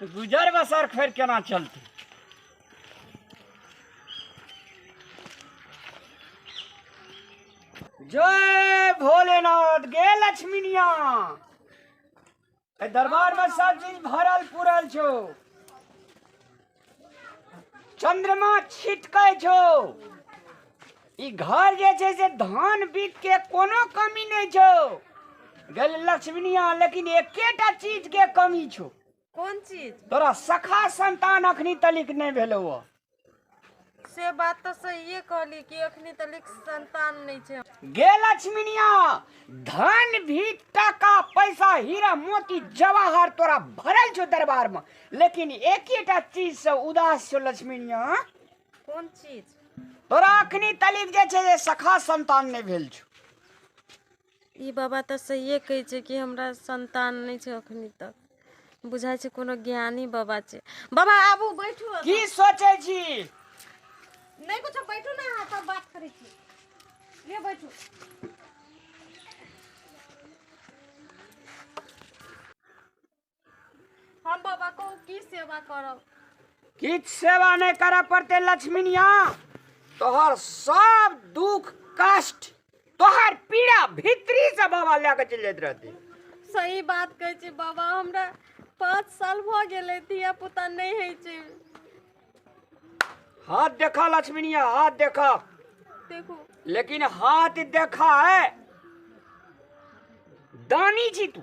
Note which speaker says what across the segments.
Speaker 1: गुजर बसर फेर केना चलतै जय भोलेनाथ गे लक्ष्मीनिया दरबार में सब चीज भरल पूरल छो चंद्रमा छिटकै छौ ई घर जे छै से धान बीत के कोनो कमी नहि छौ गेल लक्ष्मीनिया लेकिन एकेटा चीज के कमी छौ कोन चीज
Speaker 2: तोरा सखा
Speaker 1: संतान अखनी तलिक नहि भेलौ
Speaker 2: से बात तऽ सहिए कहली कि एखनी तऽ लिख संतान नहि छै गे लक्ष्मीनिया
Speaker 1: धन भी टाका पैसा हीरा मोती जवाहर तोरा भरल छौ दरबार में लेकिन एक ही टा चीज से उदास छौ लक्ष्मीनिया कोन
Speaker 2: चीज तोरा अखनी
Speaker 1: तलिक जे छै से सखा संतान नहि भेल छौ
Speaker 2: ई बाबा तऽ सहिए कहै छै कि हमरा संतान नहि छै अखन तक बुझाइ छै कोनो ज्ञानी बाबा छै बाबा आबू बैठू एतऽ। की सोचै छी नहि कुछो बैठू ने अहाँ तब बात करै छी ले बैठू हम बाबा को की सेवा करब किछ
Speaker 1: सेवा नहीं करे पड़ते लक्ष्मीनिया तोहर सब दुख कष्ट तोहर पीड़ा भीतरी से बाबा लेके चल जाते रहते सही बात
Speaker 2: कहै छी बाबा हमरा पाँच साल भऽ गेलै धिया पुता नहि होइ छै
Speaker 1: हाथ देखा लक्ष्मीनिया हाथ देखा देखू
Speaker 2: लेकिन
Speaker 1: हाथ देखा है दानी जी तू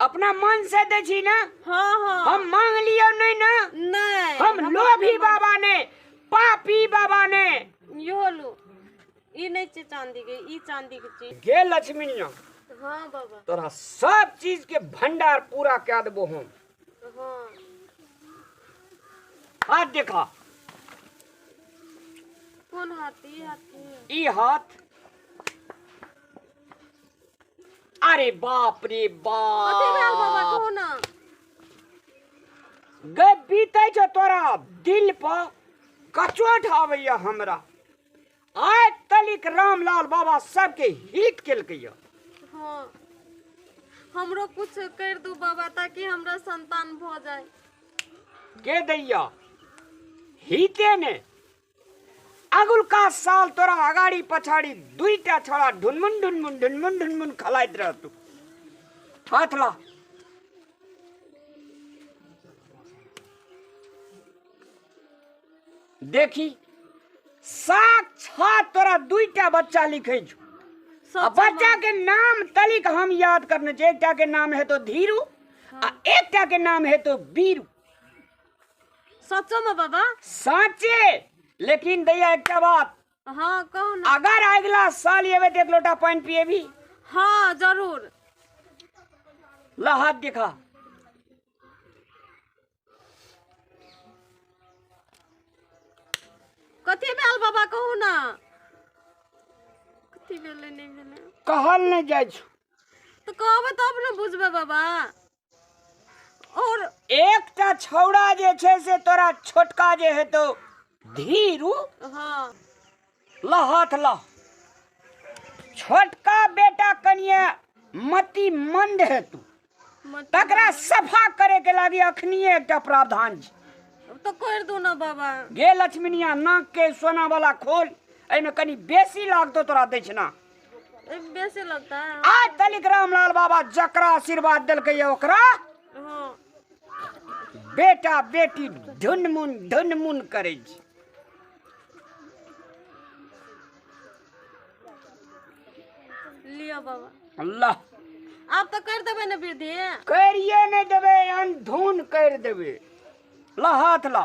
Speaker 1: अपना मन से दे छी ना हाँ हाँ हम
Speaker 2: मांग लियो
Speaker 1: नहीं ना नहीं हम
Speaker 2: लोभी
Speaker 1: बाबा ने पापी बाबा ने यो लो
Speaker 2: ई नहीं छे चांदी के ई चांदी के चीज गे लक्ष्मीनिया
Speaker 1: हाँ बाबा
Speaker 2: तोरा सब
Speaker 1: चीज के भंडार पूरा कर देबो हम हाँ हाथ देखा
Speaker 2: कौन हाथी हाथी ई
Speaker 1: हाथ अरे बाप रे कते भेल बाबा बाप कहू
Speaker 2: ना
Speaker 1: गए बीते छो तोरा दिल पर कचोट आबैया हमरा आइ तलिक रामलाल बाबा सबके हिट केलकैया हाँ
Speaker 2: हमरो कुछ कर दू बाबा ताकि हमरा संतान भऽ जाए के
Speaker 1: दैया हिते ने अगुलका साल तोरा अगाड़ी पछाड़ी दुईटा छोरा ढुनमुन ढुनमुन ढुनमुन ढुनमुन खलाइत रहतु हाथ ला देखी साक्षात तोरा दुईटा बच्चा लिखे छु आ बच्चा के नाम तलिक हम याद करने छै एकटा के नाम हेतो धीरू आ एकटा के नाम हेतो बीरू
Speaker 2: सचो में बाबा साचे
Speaker 1: लेकिन दैया एकटा बात हाँ कहू
Speaker 2: ना अगर अगला साल
Speaker 1: एबे तो एक लोटा पानी पिएबी हाँ जरूर ला हाथ दिखा
Speaker 2: कथी भेल बाबा कहू ना कथी भेलै नहि भेलै कहल नहीं जाय
Speaker 1: छो तो कहबै
Speaker 2: तब ने बुझबै बाबा और एकटा
Speaker 1: छौड़ा जे छै से तोरा छोटका जे हेतौ धीरू हाँ लहथ लह छोटका बेटा कनिए मति मंद हेतु तकरा सफा करे के लागी अखनिए एकटा प्रावधान छै तो कर दू
Speaker 2: ना बाबा गे लक्ष्मीनिया
Speaker 1: नाक के सोना वाला खोल एहिमे कनी बेसी लागतो तोरा दक्षिणा बेसी
Speaker 2: लगता है आज तलिक रामलाल
Speaker 1: बाबा जकरा आशीर्वाद देलकै ये ओकरा हाँ बेटा बेटी ढुनमुन ढुनमुन करै छै
Speaker 2: लियो बाबा अल्लाह
Speaker 1: आप तो कर देबै
Speaker 2: ने वृद्धि करिए नहि
Speaker 1: देबै अनधुन करि देबै ला हाथ ला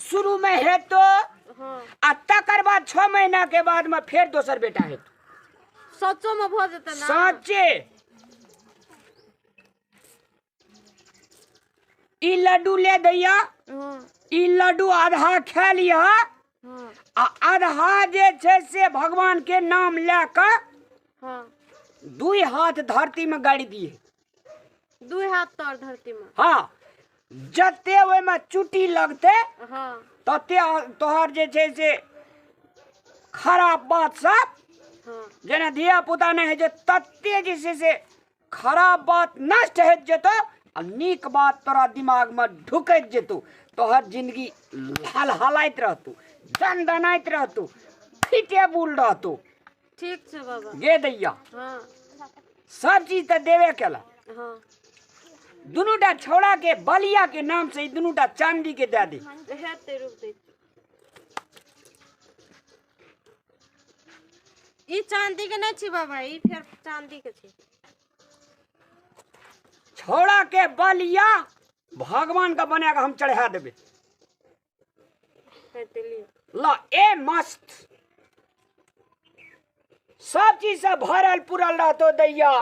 Speaker 1: शुरू में हेतो हाँ
Speaker 2: आ तकर
Speaker 1: बाद छह महीना के बाद में फेर दोसर बेटा हेतो सचो
Speaker 2: में भऽ जेतै ने साँचे
Speaker 1: ई लड्डू ले दैया हाँ ई
Speaker 2: लड्डू
Speaker 1: आधा खा लिह हाँ आ
Speaker 2: आधा
Speaker 1: जे छै से भगवान के नाम लए कऽ हाँ
Speaker 2: दुई
Speaker 1: हाथ धरती में गाड़ि दिए दू
Speaker 2: हाथ तर धरती में हाँ
Speaker 1: जते ओहिमे चुटी लगते हाँ
Speaker 2: तते
Speaker 1: तोहर जे छै से खराब बात सब हाँ जेना
Speaker 2: धिया पुता
Speaker 1: नहि हेतै तते जे छै से खराब बात नष्ट होइत जेतौ आ नीक बात तोरा दिमागमे ढुकैत जेतौ तोहर जिंदगी हलहलाइत रहतौ दनदनाइत रहतौ फिटे बुल रहतौ ठीक
Speaker 2: छै बाबा गे दैया
Speaker 1: हँ
Speaker 2: सब
Speaker 1: चीज तऽ देबे केला हँ
Speaker 2: दुनू
Speaker 1: टा छौड़ा के बलिया के नाम से ई दुनू टा चांदी के दे दी हेतै रुक दै
Speaker 2: छी। ई चांदी के नहि छी बाबा ई फेर चांदी के छी
Speaker 1: छौड़ा के बलिया भगवान के बना के हम चढ़ा देबे
Speaker 2: ल ए मस्त
Speaker 1: सब चीज से भरल पुरल रहतो दैया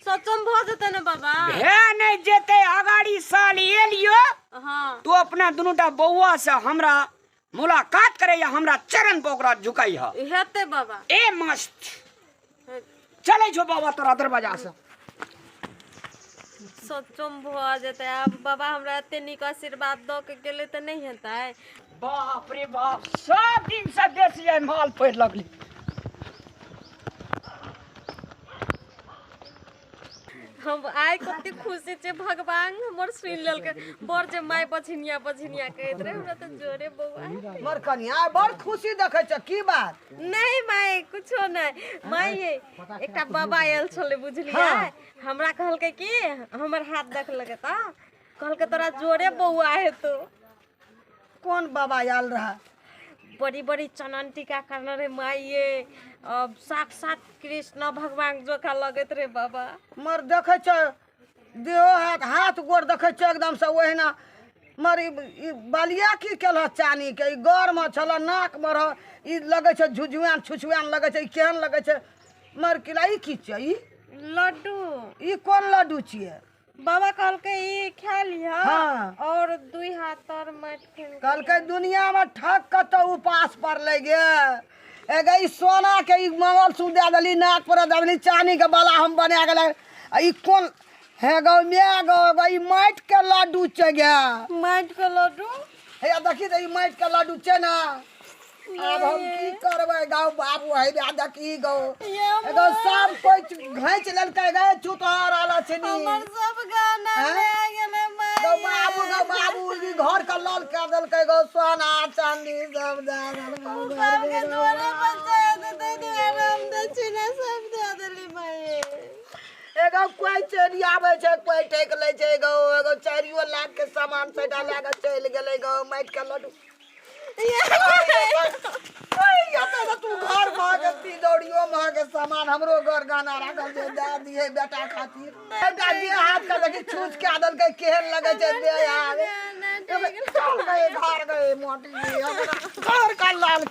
Speaker 1: सचम
Speaker 2: भ जेतै ने बाबा भे नहीं जेते
Speaker 1: अगाड़ी साल एलियो हाँ तो
Speaker 2: अपना दुनूटा
Speaker 1: बौआ से हमरा मुलाकात करे या हमरा चरण पर ओकरा झुकाई है हेतै बाबा ए
Speaker 2: मस्त
Speaker 1: चले छो बाबा तोरा दरवाजा से
Speaker 2: सचम भ जेतै आब बाबा हमरा एते नीक आशीर्वाद द के गेले त नहीं हेतै बाप रे
Speaker 1: बाप सब दिन से बेसी आई माल पड़ लगली
Speaker 2: हम आइ कते खुशी छै भगवान हमर सुनि लेलकै बड़ जे माय बझिनिया बझिनिया कहैत रहे हमरा तऽ जोरे बौआ हेतै। मर कनिया बड़
Speaker 3: खुशी देखै छ की बात नहि माय
Speaker 2: कुछो नहि माय ये एकटा बाबा आयल छलै बुझलियै हमरा कहलकै कि हमर हाथ देखलकै तऽ कहलकै तोरा जोरे बौआ हेतौ
Speaker 3: कोन बाबा आयल रहए बड़ी बड़ी
Speaker 2: चनन टीका करने रहे माइये अब साक्षात कृष्ण भगवान जोका लगैत रहे बाबा मर देखै छ
Speaker 3: देहो हाथ हाथ गोड़ देखै छ एकदम से ओहिना मर ई ई बलिया की केलह चानी के ई गौर में छल नाक में रह ई लगै छै झुझुआन छुछुआन लगै छै ई केहन लगै छै मर किला ई की छियै ई लड्डू
Speaker 2: ई कोन
Speaker 3: लड्डू छियै बाबा कहलकै
Speaker 2: ई खा लिह हाँ। और
Speaker 3: दुई हाथ
Speaker 2: तर माटि फेर कहलकै दुनिया
Speaker 3: में ठक कतौ उपास पड़ले गे एगे ई सोना के ई मंगल सूत्र दे देली नाक पर दे देली चांदी के बाला हम बना गेले आ ई कोन हे गौ मे गौ गौ ई माटि के लड्डू छै गे माटि के
Speaker 2: लड्डू हे आ देखी तऽ
Speaker 3: ई माटि के लड्डू छै ना आब हम की करबै गौ बाबू हे बे देखी गौ एगो सब कोइ घैंच लेलकै गै चुतहर आला छै नी हमर सब
Speaker 2: गाना हैं? ले गेलै गौ बाबू गौ
Speaker 3: बाबू ई घर के लाल कऽ देलकै गौ सोना चांदी सब दऽ देलकै गौ सबके बाबू। दुआरे पर
Speaker 2: दे दे दे दे आराम दे छिना सब दे देली माये एगो
Speaker 3: कोई चोरी आवे छै कोई ठेक ले छै एगो एगो चारियो लाख के सामान से डाला के चल गेले एगो माइट के लड्डू ओए यते से तू घर में के तिजोरियो में के सामान हमरो घर गाना राखल छै दे दिए बेटा खातिर बेटा जे हाथ का देखी छूछ के आदल के केहन लगे छै दे आवे चल गए घर गए मोटी जी, हमरा घर का लाल